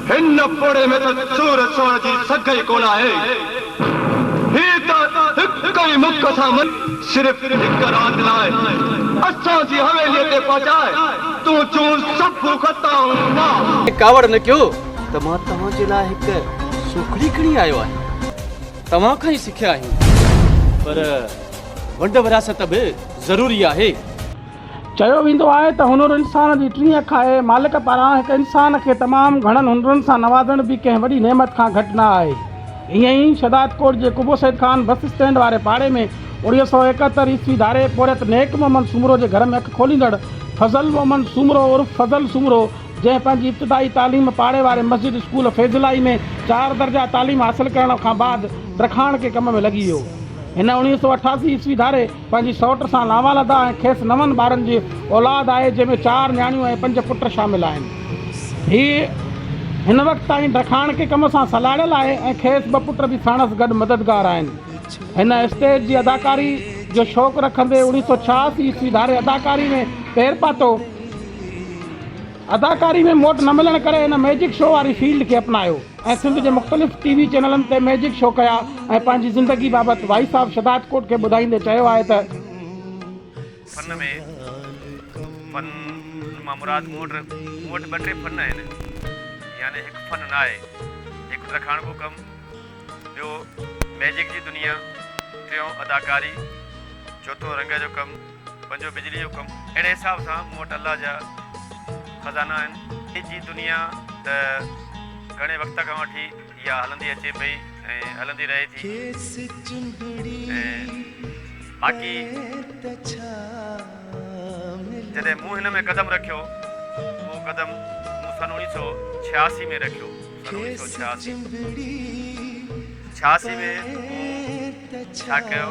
هن پوڙهي ۾ ته چور چور جي سگهه ئي ڪونه آهي. هي ته هڪ ئي مک سان مري صرف هڪ رات لاء اسان جي حويليء تي پهچائي تنهنجون سڀ خطائون معاف. ائين ڪاوڙ نه ڪيو ته مان توهان جي لاء هڪ سوکڙي کڻي آيو آهيان. توهان کان ئي سکيا آهيون. پر ونڊ ورهاست به ضروري آهي. چيو ويندو آهي ته هنر انسان جي ٽين اک آهي. مالڪ پاران هڪ انسان کي تمام گهڻن هنرن سان نوازڻ به ڪنهن وڏي نعمت کان گهٽ نه آهي. ائين ئي شهدادڪوٽ جي قبو سيد خان بس اسٽينڊ واري پاڙي ۾ اوڻيهه سؤ ايڪهتر عيسوي ڌاري پورهيت نيڪ محمد سومرو جي گهر ۾ اک کوليندڙ فضل محمد سومرو عرف فضل سومرو جنهن پنهنجي ابتدائي تعليم پاڙي واري مسجد اسڪول فيض الاهي ۾ چار درجا تعليم حاصل ڪرڻ کان بعد ترخاڻ ڪي ڪم ۾ لڳي ويو. هن اوڻيهه سؤ اٺاسي عيسوي ڌاري پنهنجي سئوٽ سان لانوالده ۽ کيس نون ٻارن جي اولاد آهي جنهن ۾ چار نياڻيون ۽ پنج پٽ شامل آهن. هي هن وقت تائين ڊکاڻڪي ڪم سان سلهاڙيل آهي ۽ کيس ٻه پٽ به ساڻس گڏ مددگار آهن. هن اسٽيج جي اداڪاري جو شوق رکندي اوڻيهه سؤ ڇهاسي عيسوي ڌاري اداڪاري ۾ پير پاتو. اداڪاري ۾ موٽ نه ملڻ ڪري هن ميجڪ شو واري فيلڊ کي اپنايو. ۽ سنڌ جي مختلف ٽي وي چينلن تي ميجڪ شو ڪيا ۽ پنهنجي زندگي بابت وائي صاحب شھداد ڪوٽ کي ٻڌائيندي چيو آهي ته. فن ۾ فن مان مراد مون وٽ مون وٽ ٻه ٽي فن آهن يعني هڪ فن نه آهي هڪ ترخاڻڪو ڪم ٻيو ميجڪ جي دنيا ٽيون اداڪاري چوٿون رنگ جو ڪم پنهنجو بجلي جو ڪم اهڙي حساب سان مون وٽ الله جا خزانا آهن. اڄ جي دنيا ته گهڻي وقت کان وٺي اها هلندي اچي پئي ۽ هلندي رهي ٿي ۽ باقي جڏهن مون هن ۾ قدم رکيو اهو قدم مون سن اوڻي سئو ڇهاسي ۾ رکيو سن اوڻي سئو ڇهاسي ڇهاسي ۾ مون ڇا ڪيو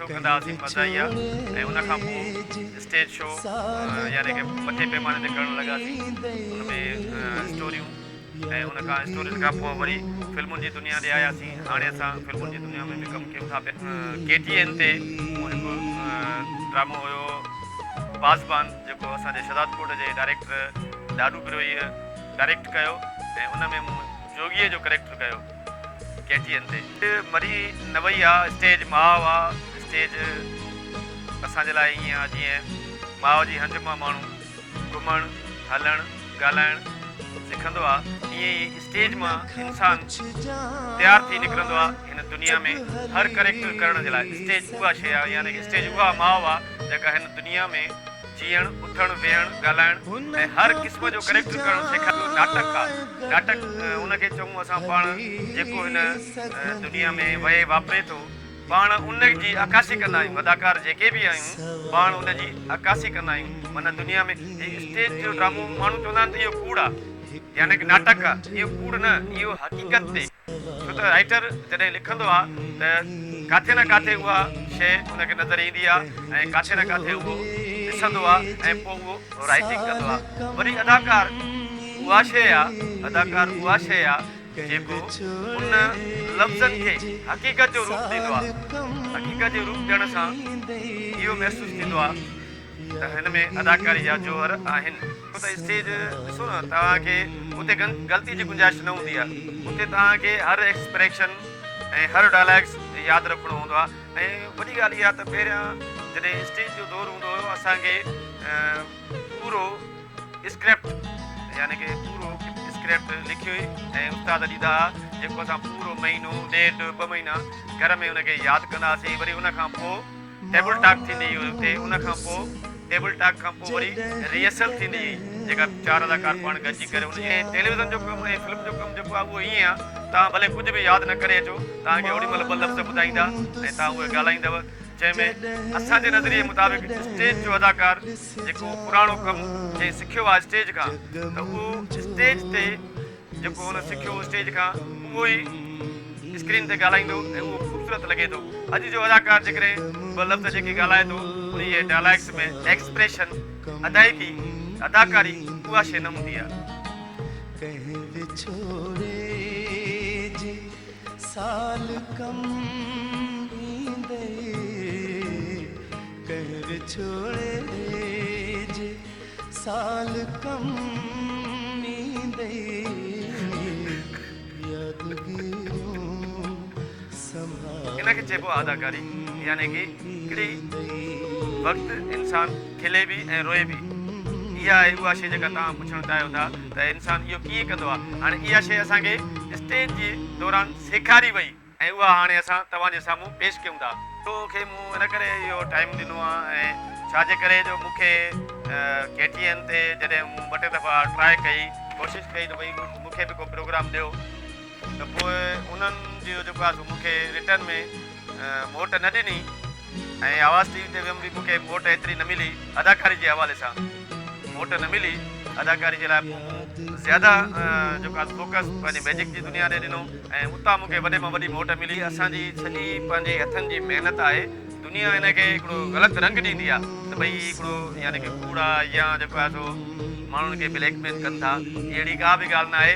ڪندا هئاسين مزاحيه ۽ ان کان پوء اسٽيج شو يعني ڪي وڏي پيماني تي ڪرڻ لڳاسين ان ۾ اسٽوريون ۽ ان کان اسٽورين کان پوء وري فلمن جي دنيا ڏي آياسين هاڻي اسان فلمن جي دنيا ۾ به ڪم ڪيون ٿا پيا ڪي ٽي اين تي مون هڪ ڊرامو هيو پاسبان جيڪو اسان جي شهداد ڪوٽ جي ڊائريڪٽر لاڏو بروهي ڊائريڪٽ ڪيو ۽ ان ۾ مون جوڳي جو ڪريڪٽر ڪيو ڪيٽين تي مري نه وئي آ اسٽيج ماء آ اسٽيج اسان جي لاء ائين آ جيئن ماء جي هنج مان ماڻهو گهمڻ هلڻ ڳالهائڻ سکندو آ ائين ئي اسٽيج مان انسان تيار ٿي نڪرندو آ هن دنيا ۾ هر ڪريڪٽر ڪرڻ جي لاء اسٽيج اها شي آ يعني اسٽيج اها ماء آ جيڪا هن دنيا ۾ جيئڻ، اٿڻ، ويهڻ، ڳالهائڻ ۽ هر قسم جو ڪريڪٽر ڪرڻ سيکاريندو ناٽڪ آ. ناٽڪ ان کي چئون اسان پاڻ جيڪو هن دنيا ۾ وهي واپري ٿو پاڻ ان جي عڪاسي ڪندا آهيون اداڪار جيڪي به آهيون پاڻ ان جي عڪاسي ڪندا آهيون معنيٰ دنيا ۾ هي اسٽيج جو ڊرامو ماڻهو چوندا آهن ته اهو ڪوڙ آ يعني ڪه ناٽڪ آ اهو ڪوڙ نه اهو حقيقت تي ڇو ته رائيٽر جڏهن لکندو آ ته ڪاٿي نه ڪاٿي اها شيء ان کي نظر ايندي آ ۽ ڪاٿي نه ڪاٿي اهو ڏسندو آ ۽ پوء اهو رائيٽنگ ڪندو آ. وري اداڪار اها شيء آ اداڪار اها شيء آ جيڪو ان لفظن کي حقيقت جو روپ ڏيندو آ. حقيقت جو روپ ڏيڻ سان اهو محسوس ٿيندو آ. ته هن ۾ اداڪاري جا جوهر آهن. ڇو ته اسٽيج ڏسو نه توهان کي اتي غلطي جي گنجائش نه هوندي آهي. اتي توهان کي هر ايڪسپريشن ۽ هر ڊائلاگس ياد رکڻو هوندو آهي ۽ وڏي ڳالهه اها ته پهريان جڏهن اسٽيج جو دور هوندو هيو اسان کي پورو اسڪرپٽ يعني ڪي پورو اسڪرپٽ لکي ۽ استاد ڏيندا ها جيڪو اسان پورو مهينو ڏيڍ ٻه مهينا گهر ۾ ان کي ياد ڪندا هاسين وري ان کان پوء ٽيبل ٽاڪ ٿيندي هئي اتي ان کان پوء ٽيبل ٽاڪ کان پوء وري ريهرسل ٿيندي هئي جيڪا چار اداڪار پاڻ گڏجي ڪري ان جي ٽيليوزن جو ڪم ۽ فلم جو ڪم جيڪو آهي اهو ائين آهي توهان ڀلي ڪجهه به ياد نه ڪري اچو توهان کي اوڏي مهل ٻه لفظ ٻڌائيندا ۽ توهان اهي ڳالهائيندو جنهن ۾ اسان جي نظريي مطابق اسٽيج جو اداڪار جيڪو پراڻو ڪم جنهن سکيو آهي اسٽيج کان ته اهو اسٽيج تي جيڪو هن سکيو اسٽيج کان اهو ئي اسڪرين تي ڳالهائيندو ۽ اهو خوبصورت لڳي ٿو. اڄ جو اداڪار جيڪڏهن ٻه لفظ جيڪي ڳالهائي ٿو انهيء ڊائلاگس ۾ ايڪسپريشن، ادائيگي، اداڪاري اها شيء نه هوندي آهي. سال ڪم ايندي يادگيرون سنڀال ان کي چئبو آهي اداڪاري يعني ڪي ڪڙي وقت انسان کلي به ۽ روئي به اها آهي اها شي جيڪا توهان پڇڻ چاهيو ٿا ته انسان اهو ڪيئن ڪندو آهي هاڻي اها شي اسان کي اسٽيج جي دوران سيکاري وئي. ۽ اها هاڻي اسان توهان جي سامهون پيش ڪيون ٿا. تو کي مون ان ڪري اهو ٽائيم ڏنو آهي ۽ ڇا جي ڪري جو مون کي ڪي ٽي اين تي جڏهن مون ٻه ٽي دفعا ٽرائي ڪئي، ڪوشش ڪئي ته ڀئي مون کي به ڪو پروگرام ڏيو ته پوء انهن جو جيڪو آهي سو مون کي رٽرن ۾ موٽ نه ڏني. ۽ آواز ٽي وي تي ويم به مون کي موٽ ايتري نه ملي اداڪاري جي حوالي سان موٽ نه ملي اداڪاري جي لاء پوء مون زياده جيڪو آهي فوڪس پنهنجي ميجڪ جي دنيا ڏي ڏنو ۽ اتان مون کي وڏي مان وڏي موٽ ملي. هي اسان جي سڄي پنهنجي هٿن جي محنت آهي دنيا هن کي هڪڙو غلط رنگ ڏيندي آهي ته ڀئي هي هڪڙو يعني ڪي ڪوڙ آهي يا جيڪو آهي سو ماڻهن کي بليڪ ميل ڪن ٿا هي اهڙي ڪا به ڳالهه ناهي.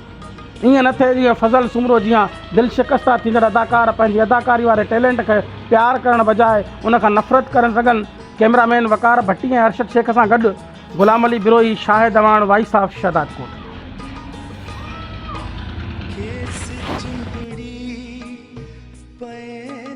ائين نه ٿئي جيئن فضل سومرو جيان دل شڪسته ٿيندڙ اداڪار پنهنجي اداڪاري واري ٽيلنٽ کي پيار ڪرڻ بجاء ان کان نفرت ڪري سگهن ڪئميرا مين وقار ڀٽي ۽ ارشد شيخ سان گڏ غلام علي بروهي شاهد اعواڻ وائيس آف شهدادڪوٽ. کيس چنبڙي پئي.